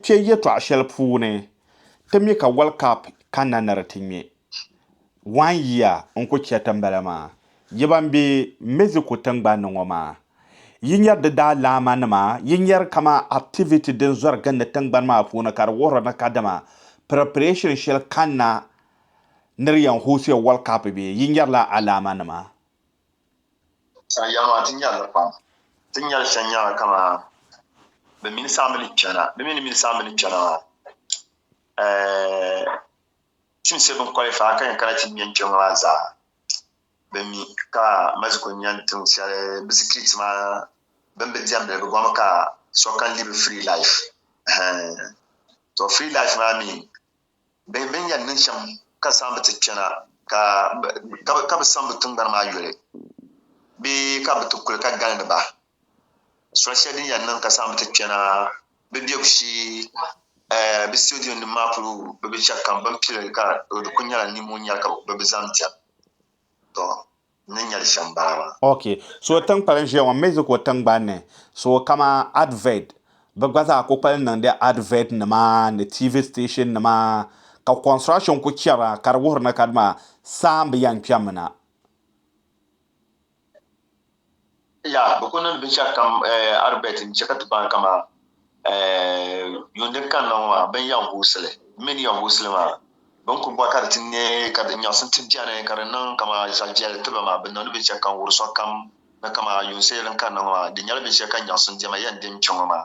Kpe yɛtɔɣ shɛli puuni ti mi ka World Cup kanna ni di ti ŋme one year n-ku chɛriti m-bala maa. Yi ban be Mexico tiŋgbani ni ŋɔ maa, yi nyari di daalamanima, yi nyari kaman activity din zɔri gindi tiŋgbani maa puuni ka di wuhiri ni kadama preparation shɛli kanna ni di yɛn host-ya World Cup bee, yi nyarila alaamanima. Sa ya maa, ti nya li pam. Ti ni nya li shɛli nyɛla kamani bɛ mini saha mini kpɛna. Bɛ mi ni mini saha mini kpɛna maa, eh, teams shɛli bini qualify ka yɛn kana ti ŋme n-kpe ŋɔ maa zaa, bɛ mi ka Mexico nya tiŋ shɛli bɛ sikiriti maa bɛ ni bi diɛmdi li. Bɛ bɔrimi ka so can live a free life. Ɛhɛn, tɔ free life maa mi. Bɛ ni yɛn niŋ shɛm ka saamba ti kpɛna ka bɛ saŋ bɛ tiŋgbani maa yoli bee ka bɛ ti kuli ka galindi ba? Soli shɛli din yɛn niŋ ka saamba ti kpɛna bɛ biɛbu shee bɛ sitidiyonnim maa polo bɛ binshɛlikam bɛ ni pili ka di kuli nyɛla nimo n-nyɛ li ka bɛ zaŋ diɛm. n ni nyɛli shɛm bala maa. Ok, so tinkpali n ʒiya ŋɔ Mexico tingbani ni, so kama advert, bɛ gba zaa ku kpali niŋdi advert nima ni TV station nima ka construction ku chɛra ka di wuhiri ni kadima saa m-bi yɛn kpɛmmi na. Ya, bɛ ku niŋdi binshɛlikam arbɛt n-chɛ ka ti baŋ kaman yuun din kanna ŋɔ maa bɛn yɛn guusi li. N mi ni yɛn guusi li maa. Bɛ ni ku bɔri ka di ti ne ka di nyaɣisim ti beni ka di niŋ kaman zaɣiviɛlli ti ba maa, bɛ niŋdi binshɛlikam wuri sokam ni kaman yuun seei din kanna ŋɔ maa. Di nyɛla binshɛlikam nyaɣisim diɛma yɛn din kpe ŋɔ maa.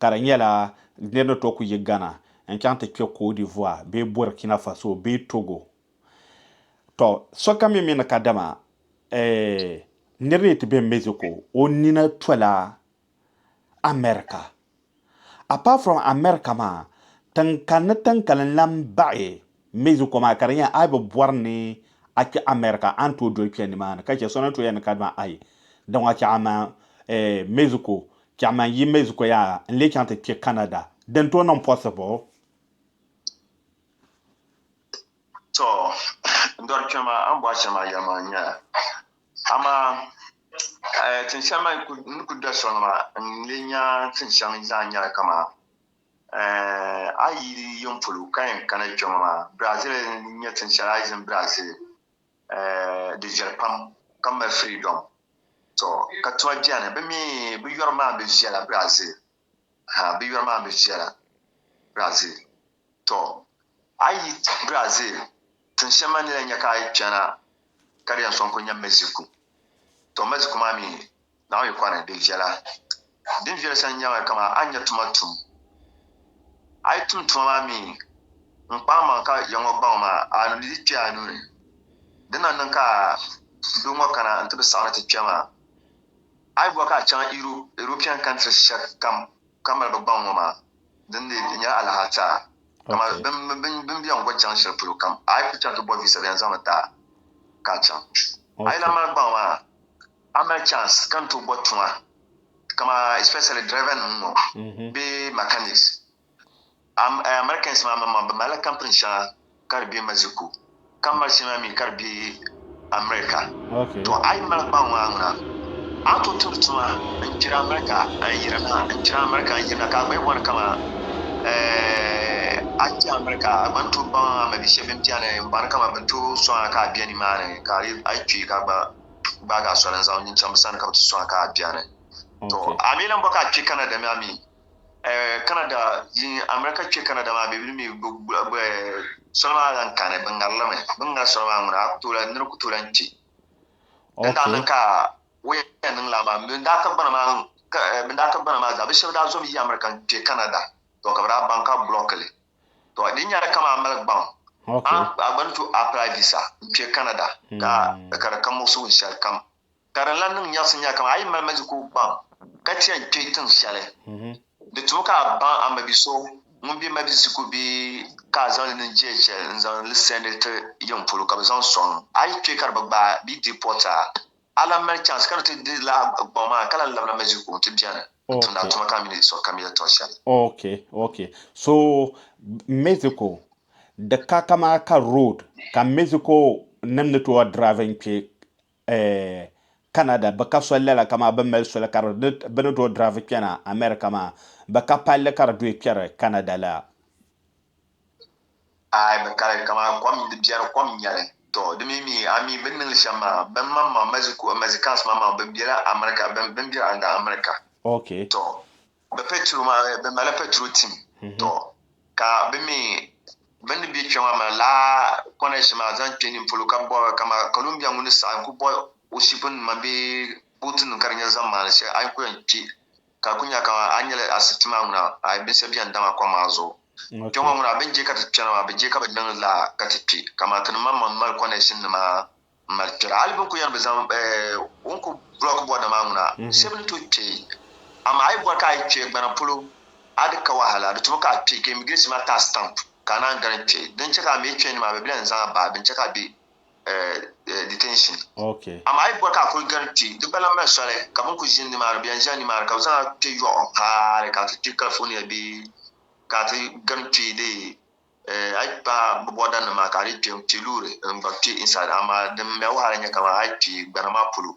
ka di nyɛla niriba ni tooi kuli yi Ghana n-chaŋ ti kpe Côte d'Ivoire bee Burkina Faso bee Togo. Tɔ, sokam mi mi ni ka dama eh, nir ni ti be Mexico o nina tola America. Apart from America maa, tiŋkani tiŋkalinli n-baɣi M mi zukuo maa ka di nyɛla a yi bi bɔri ni a kpe America a ni tooi doli kpe nimaani ka che so ni tooi yɛli ni kadama ayi dama che aman Mexico che aman yi Mexico yaa n lee chaŋ ti kpe Canada di ni tooi niŋ possible? To n dɔri kpɛma a ni bɔri shɛli maa yɛli maa nyɛla amaa tin shɛli maa ni ku doli sɔŋ maa n lee nya tin shɛŋa zaa nyɛla kaman A yi yi di yɛn polo ka yɛn kana kpɛŋɔ maa, Brazil n-nyɛ tin shɛli a yi zini Brazil di viɛli pam ka mali freedom. Tɔ! Ka tuma beni, bɛ mi bɛ yɔri maa bi viɛla Brazil ha, bɛ yɔri maa bi viɛla Brazil. Tɔ! A yi Brazil tin shɛm maa ni lahi nya ka a yi kpɛna ka di yɛn sɔŋ kuli nya Mexico. Tɔ! Mexico maa mi. Naɣ yikɔri ni bɛ viɛla. Din viɛli sa n-nyɛmi kaman a ni nya tuma tum. A yi tum tuma maa mi n-kpaamaŋ ka ya ŋɔ gbaŋ maa, a ni di kpe a nuu ni. Di na niŋ ka doo ŋɔ kana nti bi saɣi ni ti kpe maa, a yi bɔri ka a chaŋ Europe, European countries shɛlikam ka mali bɛ gbaŋ ŋɔ maa, dindee di nyɛla alahiataa. Kaman bɛ ni bɛn gɔ chaŋ shɛli polo kam, a yi ku chaŋ ti bɔ visa bɛ yɛn zaŋmi ti a ka a chaŋ. A yi lahi mali gbaŋ maa, A mali chance ka n tooi bɔ tuma kama especially driver nim ŋɔ mhm. bee mechanics. Eh, Americans maa maŋmaŋ bɛ malila company shɛŋa ka di be Mexico ka mali shɛŋa mi ka di be America. To a yi mali kpaŋ maa ŋuna a ni tooi tumdi tuma n kpiri America n yirina n kpiri America n yirina ka a gba bɔni kama eh, a kpi America a gba ni tooi baŋ a mabihi shɛba bini bɛni n bɔni kama bini tooi sɔŋ a ka a bɛ nimaani ka a yi kpi ka a gba gbaagi a soli n-zaŋ nyin chaŋ bɛ sani ka bɛ ti sɔŋ a ka a beni. To, a mi lan bɔ ka a kpe Canada mi a mi? Eh, Canada, yin America kpe Canada maa bɛ mi soli maa lan kani, bɛ ŋari li mi. Bɛ ni ŋari soli maa ŋuna, a ku tooi lan, nir ku tooi lan kpe. Din daa niŋ ka o yɛn niŋ lala maa, bɛn daa ka gbana maa, bɛn daa ka gbana maa zaa, bɛ shɛba daa zom yi America n-kpe Canada. To, ka bɛ daa baŋ ka block li. to di nyɛla kama a mali gbaŋ a gba ni to apply visa n kpɛ Canada ka hmm. ka di ka muɣisigu n shɛli kam ka din lan niŋ nyɛrisi nyɛla kama a yi mali Mexico gbaŋ ka ti yɛn kpɛ tiŋ shɛli hmm. di tumi ka a baŋ a mabi so ŋun bɛ Mexico bee ka a zaŋli niŋ DHL n zaŋ li sɛndi ti yiŋ polo ka bi zaŋ sɔŋ a yi kpɛ ka di bi gbaai bee deport a A lan mali chance ka di ti di laa gbaŋ maa ka lan labina Mexico nti beni n-tumdi a tuma ka a mi di sɔɣi kam yɛli tɔɣ shɛli. Ok, ok. So Mexico di ka kamaa ka road ka Mexico nim ni tooi drive n-kpe Canada bɛ ka soli lala kamaa bɛ mali soli ka bɛ ni tooi drive kpɛna America maa bɛ ka palli ka di duhi kpɛri Canada la. Aai, bɛ kali kaman kom di biɛri kom nyɛli. Tɔ, di mi mi a mi bini niŋ li shɛm maa, bɛn maŋ maŋ Mexico, Mexicans maŋ maŋ bɛ bela America, bɛn bɛn beri a n-gari America. Ok. Tɔ, bɛ petro maa mi, bɛ malila petro tim. Tɔ, ka bɛ mi bɛ ni be kpe maa maa laa connection maa zaŋ kpe nin polo ka bɔri kama Columbia ŋun ni saɣi n-ku bɔ o ship nima bee boat nima ka di nyɛ zaŋ maani shɛli a yi ku yɛn kpe Ka ku nya kaman a ni nyɛla asibiti maa ŋuna, a yi binsi beni dama kom maa zuɣu. Kpe ŋɔ ŋuna, bɛ ni je ka ti kpɛna maa, bɛ je ka bɛ niŋ la ka ti kpi, kaman ti ni maŋmaŋ ni mali connection nima m-mali kpɛra. Hali bɛ ni ku yɛn bi zaŋ o ni ku block bɔrina maa ŋuna, shɛba ni tooi kpe. Amaa a yi bɔri ka a yi kpe gbana polo, a di ka wahala, di tumi ka a kpe ka immigration maa ti a stamp ka a naan gari n-kpe. Din che ka a mi kpe ni maa, bɛ bi lahi ni zaŋ a bahi, bɛ ni che ka a be. uh, detention. Okay. Ama ayi bɔ ka a kuli gari kpi, di gba lan mali soli ka bin kuli ʒini nimaani, bɛ yɛn ʒila nimaani ka bɛ zaŋ a kpe yɔɣu haali ka a ti kpi California bee ka a ti gari kpi dee eh, a yi kpa bɛ bɔrda nima ka a dii kpe n-kpi loori n-gba kpi inside, amaa din mɛ wahala nyɛ kaman a yi kpi gbana maa polo.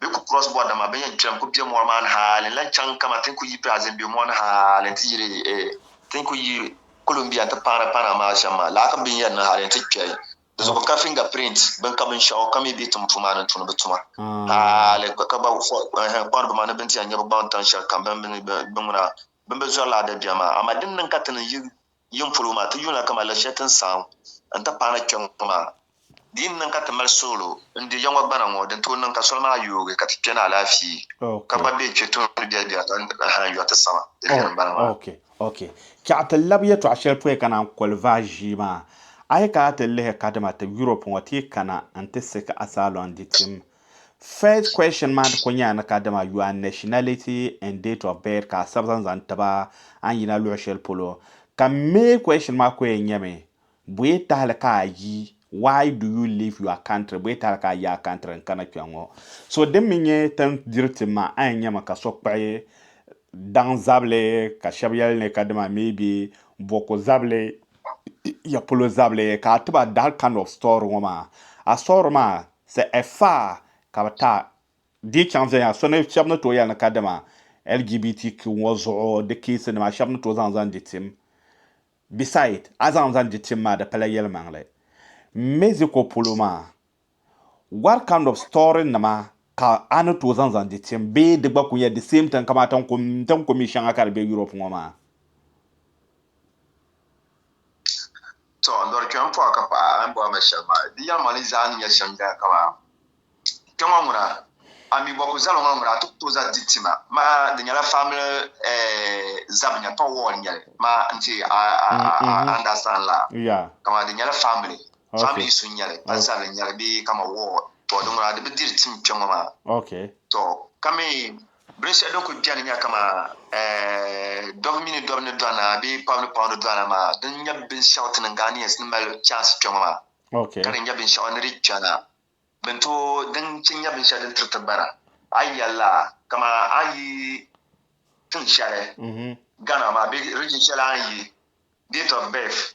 Bɛ ku cross bɔri dama bɛ yɛn kpɛm ku be mɔri maa ni hali n lan chaŋ kaman ti ni ku yi pɛɣa zim be mɔri ni hali n ti yiri ti ni ku yi Columbia nti paana paana maa shɛm maa. Lala ka bɛ ni yɛn niŋ hali n ti kpɛri di zuɣu ka finger print bɛn ka binshɛɣu ka mi be tim puu maa ni n-tumdi bɛ tuma hali ka gba kpahiri ba maa ni bɛ ni ti yɛn nya bɛ gbaŋ tan shɛlikam bɛ ni bɛ ŋuna bɛ ni be zɔri lala dabiɛm maa amaa din niŋ ka ti ni yi Yin polo maa, ti yuuna kaman la shɛli ti ni saɣim n-ti paai na kpe ŋɔ maa. Di yi ni niŋ ka ti mali suɣulo n-di ya ŋɔ gbana ŋɔ, di ni tooi niŋ ka soli maa yoogi ka ti kpe ni alaafee ka gba be kpe tuuni biɛribiɛri ka n-hali yɔri ti saŋa di lihiri gbana maa. Ok, ok. Chɛɣu ti labi yɛtɔɣ shɛli pɔi ka naan koli vaai ʒii maa. A yi kana ti lihi kadama ti Europe ŋɔ ti yi kana n-ti siɣi ka Asylum di tim First question maa di ko nyɛla ni ka dama your nationality and date of birth ka a sabi zaŋ zaŋ tiba a ni yina luɣi shɛli polo ka main question maa ko yɛn nyɛmi bɔyɛ tahili ka a yi why do you leave your country bɔyɛ tahili ka a yi a country n kana kpɛŋ ŋɔ so din mi nyɛ tin diri tim maa a yɛn nyɛmi ka so kpuɣi daŋ zabili ka shɛba yɛli ni ka dama maybe bɔku zabili ya polo zabili ka a tiba that kind of story ŋɔ maa a story maa Sɛ ɛ faa ka bɛ taai dii chaŋ viɛnyɛla so ni shɛba ni tooi yɛli ni kadama LGBTQ ŋɔ zuɣu di keesi nima shɛba ni tooi zaŋ zaŋ di tim. Beside, a zaŋ zaŋ di tim maa di pala yɛlimaŋli. Mexico polo maa, what kind of story nima ka a ni tooi zaŋ zaŋ di tim bee di gba kuli nyɛla the same thing kamani ti ni kuli mi shɛŋa ka di be Europe ŋɔ maa? To, n dɔri kpɛma pɔha ka paɣa a ni bɔri ma shɛli maa. Di yɛlimaŋli ni zaa ni nyɛ shɛm dali kaman kpɛŋɔ ŋuna, a mi bɔ ku zali ŋɔ ŋuna a ti ku tooi zaŋ di ti ma. Maa di nyɛla family ɛɛh zabi nyɛli, pa ward nyɛli. Maa n ti a a understand la. Kaman di nyɛla family, family issue nyɛli, pa zabili nyɛli bee kaman ward. To di ŋuna di bi diri tim kpɛŋɔ maa. To ka mi Bilisɛ din kul beni nya kaman dɔbu mini dɔbu ni dɔna bee paɣibu ni paɣibu ni dɔna maa, di n nya binshɛɣu ti niŋ Ghanaians ni mali chance kpe ŋɔ maa ka di nya binshɛɣu ni di chana bini tooi din che nya binshɛɣu din tiri ti bara. A yi yɛlila kaman a ni yi tiŋ shɛli Ghana maa bee region shɛli a ni yi, date of birth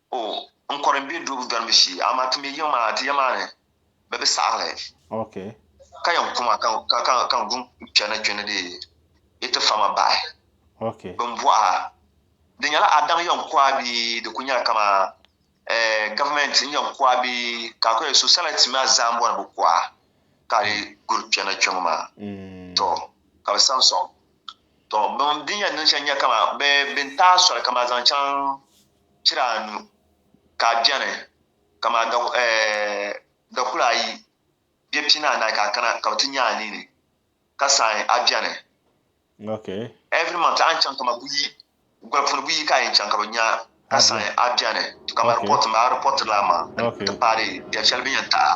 O, n kɔre m-be dubu dɔriba shee, amaa ti me yiŋ maa ti ya maa ni bɛ bi saɣi li. Okay. Ka yɛn ku ma ka n gu n-kpe na kpe ni di yi ti fa ma bahi. Okay. Bɛ ni bɔh a, di nyɛla a daŋ yɛn ku a bee di kul nyɛla kaman eh Gavumɛnti n-yɛn ku a bee ka a kul yɛli sociality maa zaa m-bɔri bɛ ku a ka a lee guri kpe na kpe ŋɔ maa? Tɔ! Ka bɛ sam sɔŋ. Tɔ! Bɛn din yɛn niŋ shɛli n-nyɛ kaman bɛ ni taai soli kaman zaŋ chaŋ pira anu ka a bɛni, kaman dakula ayi bɛ pina anahi ka a kana ka bɛ ti nya a nini ka saɣi a bɛni. Okay. Every month a ni chaŋ kaman buyi goli puuni buyi ka a yɛn chaŋ ka bɛ nya ka saɣi a bɛni. Kaman report m-bala a reportiri la a maŋa n-ti paari biɛri shɛli bɛ ni yɛn taɣi a.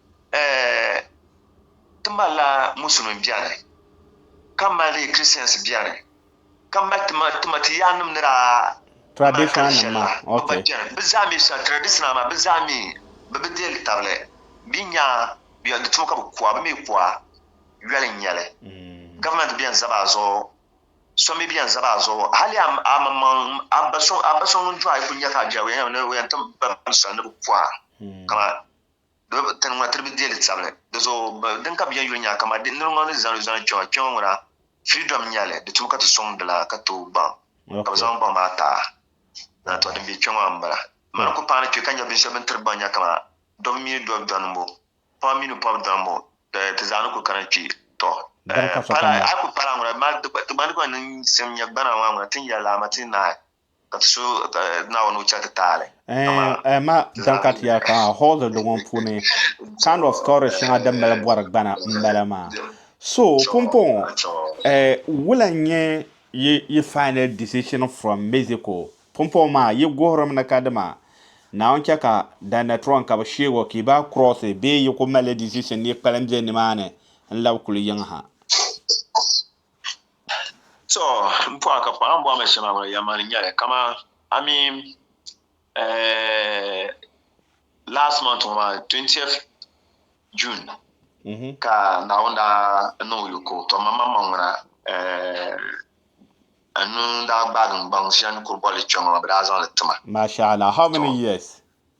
eh, ti malila musulim bɛni, ka mali Christians bɛni, ka mali tima tima ti yaannim ni daa traditional nim ma okay bi zaa mi sa traditional ma bi zaa mi bi bi deeli tabili bi nya yɔli di tuma ka bi kuwa bi mi kuwa yɔli nyɛli mm. government bɛn zaba zuɣu so mi bɛn zaba zuɣu hali a maŋmaŋ a ba so ŋun dɔɣi ku nya ka a jɛri o yɛn ti ba ni bi kuwa mm. kama Tani ŋuna tiri bi deei li tabili. Di zuɣu din ka bɛ yɛn yuli nya kaman di niriŋɔ ni zani zani kpɛŋɔ kpɛŋɔ ŋuna freedom n nyɛli di tumi ka ti sɔŋ di la ka tooi gbaŋ ka bɛ zaŋ gbaŋ maa taai na tɔ din be kpɛŋɔ maa m-bala m mali n ku paani kpe ka nya binshɛli bɛ ni tiri gbaŋ nya kaman dɔbu mini dɔbu dɔnimbu pɔbu mini pɔbu dɔnimbu ti zaa ni ku kana kpe tɔ a yi ku paai lala ŋuna ti gbaŋ di gba ni niŋ sim nya gbana maa ŋuna ti ni yɛli lala maa ti ni naai Ɛma din ka ti yɛli ka hɔɔldi di ŋɔ puuni kind of story shɛŋa din mali bɔri gbana m-bala maa so pumpɔŋɔ wula n-nyɛ yi final decision from Mexico pumpɔŋɔ maa yi guhirimi ni ka dima Naawuni chɛ ka Danatron ka bɛ sheeg o ka yi baai cross bee yi kuli malila decision ni yi kpalim be nimaani n-labi kuli yiŋ ha? To, m pɔɣa ka pɔɣa m-bɔhi ma shɛm a ŋuna yɛm ma ni nyɛli kaman I mean eh last month ŋɔ maa 20th June mm-hmm. ka Naawuni daa niŋ yoko to ma maŋ maŋ ŋuna eh n nuu daa gbaagi n gbaŋ shɛli ni kuri bɔli kpɛŋɔ maa bɛ daa zaŋ li ti ma. Mashallah, how many years?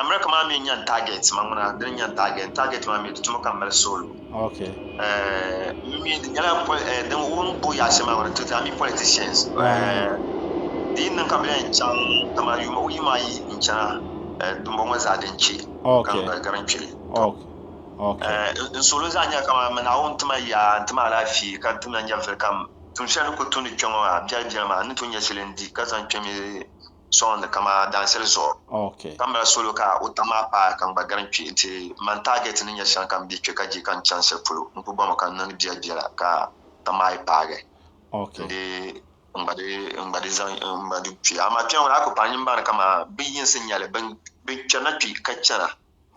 America maa mi n-nyɛ n-target ma ŋuna, dini n-nyɛ n-target, n-target maa mi di tuma ka m mali soolu. N mi di nyɛla din wurim bo yaɣ'shɛli maa ŋuna, tuzi a mi politicians di yi niŋ ka bɛ lahi chaŋ dama yuuma o yuuma ayi n-chana dimbɔŋɔ ŋɔ zaa din che ka n gari n kpeli n soolu zaa nyɛla ka man Naawuni ti ma yaa n-ti ma alaafee ka ti ma nyɛvili kam tuun shɛli ni kuli tumdi kpɛŋɔ maa biɛlibiɛli maa n ni tooi nyɛ shɛli n-di ka zaŋ kpemi sɔŋdi kama dansili zuɣu okay. ka mali solo ka o tam maa paai ka n gba gari n kpi nti man target ni nyɛ shɛŋa ka n bih kpe ka di ka n chani shɛli polo n ku bɔmi ka n niŋdi biɛla biɛla ka tam maa yi paagi okay. ndi n gba di n gba di zaŋ n gba di kpi amaa kpɛŋɔ ni a ku paai nyin baŋ ni kama bin yinsi nyɛli bin bin kpɛrina kpi ka chana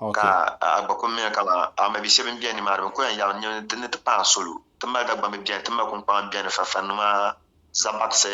okay. ka a gba ku mini kama a mabi shɛba n bɛni nimaani bin ku yan yabi ni ti ni ti paai solo ti mali Dagbambi bɛni ti mali kunkpaŋa bɛni farifarinima zabakisi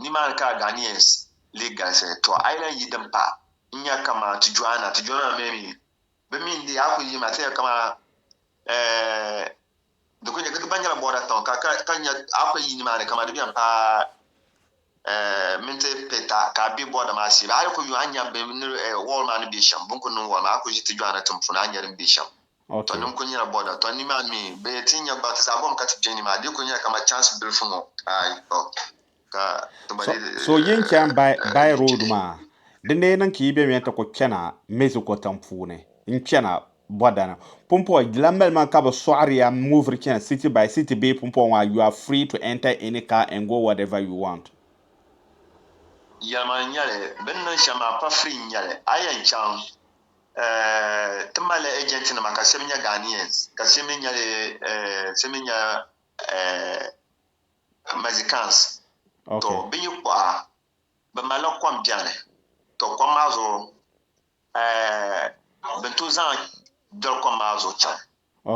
Ni maa ni ka Ghanaians lee galisi. To a yi lahi yi din pahi n-nya kaman ti Joana, ti Joana mi mi bɛ mi n-deei a kuli yi ma ti nya kaman di kuli nya, di gba nyɛla border town ka ka nya a kuli yi ni maa ni kaman di bɛn paai minti pita ka a be border maa shee. Bɛ a yi kuli yo a nya bɛ ni wall maa ni be shɛm, bɛ ni kuli niŋ wall maa a kuli ʒi ti Joana tiŋ puuni a nya din be shɛm. Tɔ ni n-kul nyɛla bɔda, tɔ nimaa mi bɛ ni ti nya gbaŋ ti zaa bɔŋ ka ti kpe ni maa, di kul nyɛla kaman chance bilifu ŋɔ, aai tɔ ka ti gba dii ti. So yin chani by road maa, di ni niŋ ka yi bemiya ti kul kpɛna Mexico tiŋ puuni n-chana bɔda ni. Pumpɔŋɔ di lan mali ma ka bɛ sɔɣiri ya m-moviri chana city by city bee pumpɔŋɔ maa, you are free to enter any car and go whatever you want. Yɛlimaŋli n-nyɛ li, bɛ ni niŋ shɛm maa pa free n-nyɛ li, a yɛn chaŋ Ti mali ejentinima ka shɛba nyɛ Ghanaians ka shɛba mi nyɛ Mexicans. Tɔ bɛ yi kɔɣa bɛ malila kom bɛni. Tɔ kom maa zuɣu bɛ ni tooi zaŋ doli kom maa zuɣu chaŋ.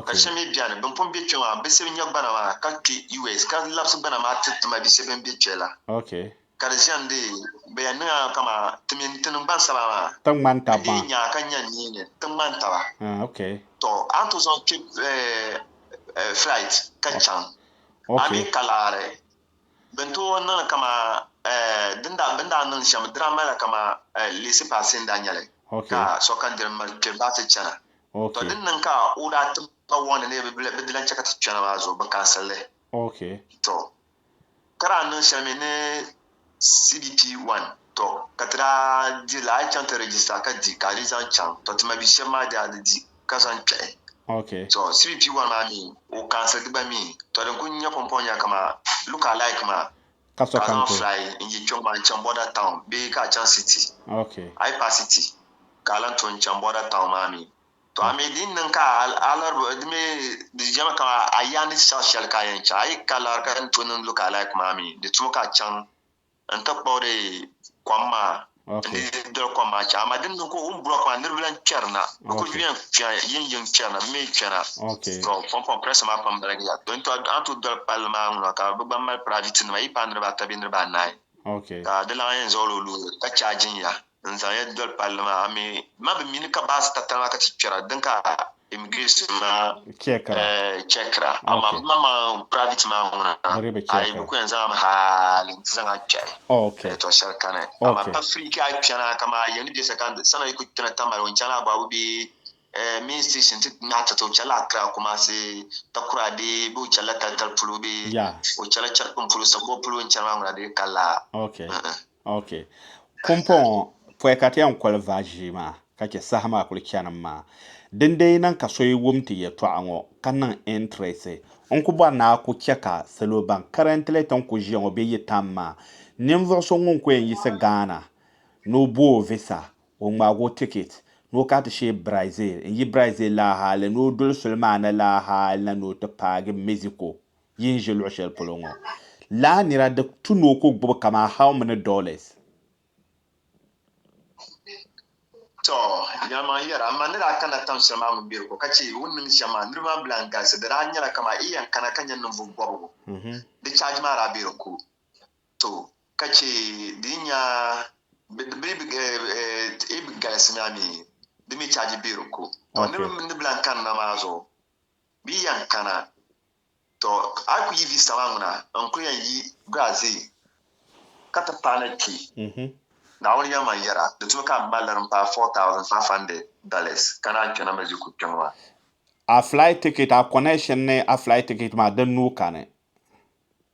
Ka shɛb mi bɛni bɛn pun be kpe maa bɛ sib nya gbana maa ka kpe US ka labsi gbana maa tiri ti ma bise bɛn be kpe la ka di ʒiɛn dee bɛ yan niŋ a kaman ti min ti niŋ gbansaba maa bɛ dee nya a ka nya nii ni ti ŋman taba tɔ a ni tooi zaŋ kpe flight ka chaŋ a mi ka laɣiri. Bɛ ni tooi niŋ li kaman bɛ ni daa niŋ shɛm dira m-mali la kaman leesi paasi n-daa nya li ka sokam diri m-mali kpe bahi ti chana. Tɔ din niŋ ka o daa tim ba wɔŋ ni ni bɛ di lan chɛ ka ti kpɛna maa zuɣu bɛ kansiri li. Tɔ ka daa niŋ shɛli mi ni CBP wan tɔ ka ti daa di li a yi chaŋ ti rɛjista ka di ka a di zaŋ chaŋ tɔ ti mabihi shɛba maa daa di di. ka zaŋ kpɛhi. Okay. So CBP one maa mi o cancel di gba mi to din kuli nyɛ pumpɔŋ nya kama look alike maa ka so ka zaŋ fly n yi kpɛŋ maa n chaŋ border town bee ka a chaŋ city. Okay. A yi paai city ka a lan to n chaŋ border town maa mi to a mi din niŋ ka a lari di mi di jɛma kama a yaa ni ti chaɣi shɛli ka a yɛn chaŋ a yi ka lari ka ni to niŋ look alike maa mi di tumi ka a chaŋ N ti kpuɣi di kom maa, n di doli kom maa chaŋ, amaa din niŋ ka o ni bɔri kom maa niriba lan kpɛri na, bɛ kul yɛn yiŋyiŋ kpɛri na, bɛ mi kpe na. Tɔ, Pɔmpɔn Press maa pam baligi ya. Tɔ, intɔ a ni tooi doli palli maa ŋuna ka bɛ gba mali piraavitinima yi paai niriba ata bee niriba anahi, ka di lahi yɛn zaɣil o loori ka chaajin ya. N zaŋ ya doli palli maa ami ma bi mini ka baasi tatali maa ka ti kpɛra din ka immigration maa chɛkira amaa bi ma maa private maa ŋuna ayi bi ku yɛn zaŋ mi haali n ti zaŋ a kpɛhi to shɛli kani amaa pa free ka a kpɛna ka maa yɛli bɛ sakandi sana yi ku kpɛna tamali o chana ababu bɛ main station ti ŋmaa tata o chɛla Accra Kumasi takura bɛ bɛ o chɛla talitali polo bɛ o chɛla chɛripin polo sabuwa polo n chɛri maa ŋuna di ka laa Ok. Kumpɔ ŋɔ pɔi ka ti yɛn koli va ʒii maa ka chɛ saha maa kuli chanim maa. Dindee yi niŋ ka so yi wum ti yɛtɔɣa ŋɔ ka niŋ interest, n ku bɔri ni a ku chɛ ka salo ban currently ti ni ku ʒiya ŋɔ bɛ yi tam maa. Ninvuɣ so ŋun ku yɛn yiɣisi Ghana ni o bo o visa, o ŋmaag o ticket ni o kana ti shee Brazil n-yi Brazil la hali ni o doli soli maa ni la hali na ni o ti paagi Mexico. yi ni ʒe luɣ shɛli polo ŋɔ la nira di tu ni o ku gbubi kaman how many dollars? Tɔ! Nya ma n-yɛr a, M ma ni daa kanila tiŋ shɛli maa mini Bɛriko ka chɛ o ni niŋdi shɛm maa, niriba maa bi lan galisi. Di daa nyɛla kaman yi yɛn kana ka nya ninvuɣ bɔbigu. Di charge maa daa be di ko too ka chɛ di yi nya bɛ ni bi galisi maa mi, di mi charge be di ko. Tɔ! Niriba mi ni bi lan kanina maa zuɣu Bɛ yɛn kana. Tɔ! A ku yi vi saha ŋuna, n ku yɛn yi Brazil ka ti paai na kpi. Naawuni yɛn ma yɛra, di tumi ka m mali li din paai $4,500 ka naan kpe na Mexico kpiŋ maa. A flight ticket, a connection ni a flight ticket maa, di nuu kani?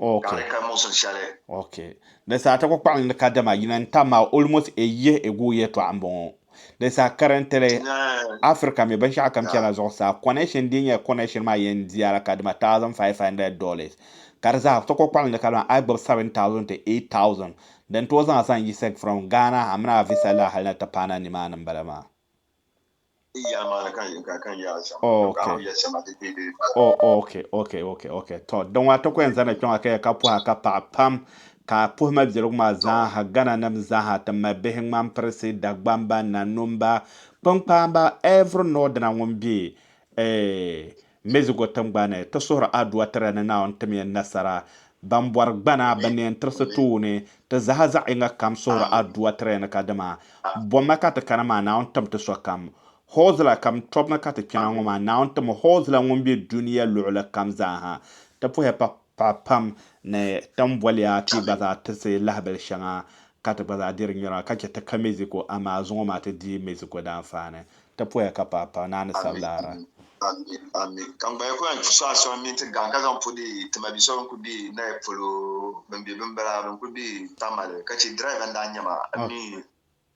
Okay. Okay. Di saa ti ku kpaɣim ni kadama yina n-tam ma almost a year ago yɛltɔɣa m-bɔŋɔ. Di saa currently Africa mi binshɛɣu kam chana zuɣusaa connection din nyɛ connection maa yɛn diya la kadama thousand five hundred dollars ka di zaa ti ku kpaɣim ni kadama a yi gbubi seven thousand to eight thousand din tooi zaŋ a zaŋ yiɣisi from Ghana ha mini a visa lahi hali ni ti paana nimaani m-bala maa. okokokok to din ŋɔ tɔku yɛn zani kpɛŋɔ ka ka puha ka paɣa pam ka puhima biɛligu maa zaaha gana nim zaaha ti mali bihi ŋmani pirisi dagbamba nanumba kpinkpamba every nɔdina ŋun bɛ Mexico tingbani, ti suhiri Adua Tira ni Naawuni tim ya nasara. Ban bɔri gbana bɛ ni yɛn tirisi tooni, ti zaha zaɣ yiŋa kam suhiri Adua Tira ni ka dima bomma ka ti kana maa, Naawuni tim ti sokam. Hoo zila kam tɔbu ni ka ti kpɛna ŋɔ maa, Naawuni tim hoo zila ŋun be dunia luɣili kam zaa ha. Ti puhiya pa. Paɣa pam ni tam boliya ti gba zaa tirisi lahabili shɛŋa ka ti gba zaa diri nyura ka chɛ ti ka Mexico amaa zuŋɔ maa ti dii Mexico daanfaani. Ti poya ka paɣa paɣa naa ni sabila ara. Ameen Ameen ka ŋgbaya kuli yan kpi suɣa soŋ mini ti gaŋ ka zaŋ pu di tima bi so bin kuli be nayi polo bin be binbala bin kuli be tamale ka che driver n daa nyɛ ma ameen.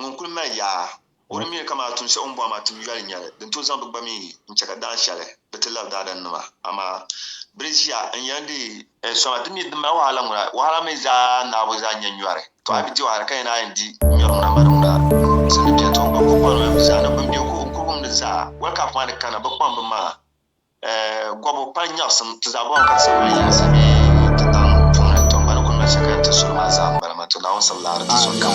Ŋun kul mali yaa, o ni miri ka maa tum shɛli o ni bɔhi maa tum yoli n-nyɛli, din tooi zaŋ bɛ gba mi n-chɛ ka dahin shɛli bɛ ti lab daadannima. Amaa! Bɛ di ʒiya n-yɛn di. Soma ti mi din mali wahala ŋuna, wahala mi zaa naabu zaa n-nyɛ nyɔri. Tɔ! A bi di wahala ka yɛn a yɛn di nyɔri ŋuna m-mali ŋuna? Sindi beni tɔ! N gba n-kul kpaŋdila bɛ zaa ni bɛ ni be n-kurigumdi zaa, wal ka a kpaŋa ni kana, bɛ kpaŋ bɛ maŋa. Gɔbu pali nyaɣisim ti zaɣ bɔŋ ka ti sabili yinsi bee ti daŋ puuni. Tɔ! Bana kul mali shɛli ka yɛn ti suri maa zaa m-bala maa. Tɔ! Naawuni sabila a di ti sɔŋ kam.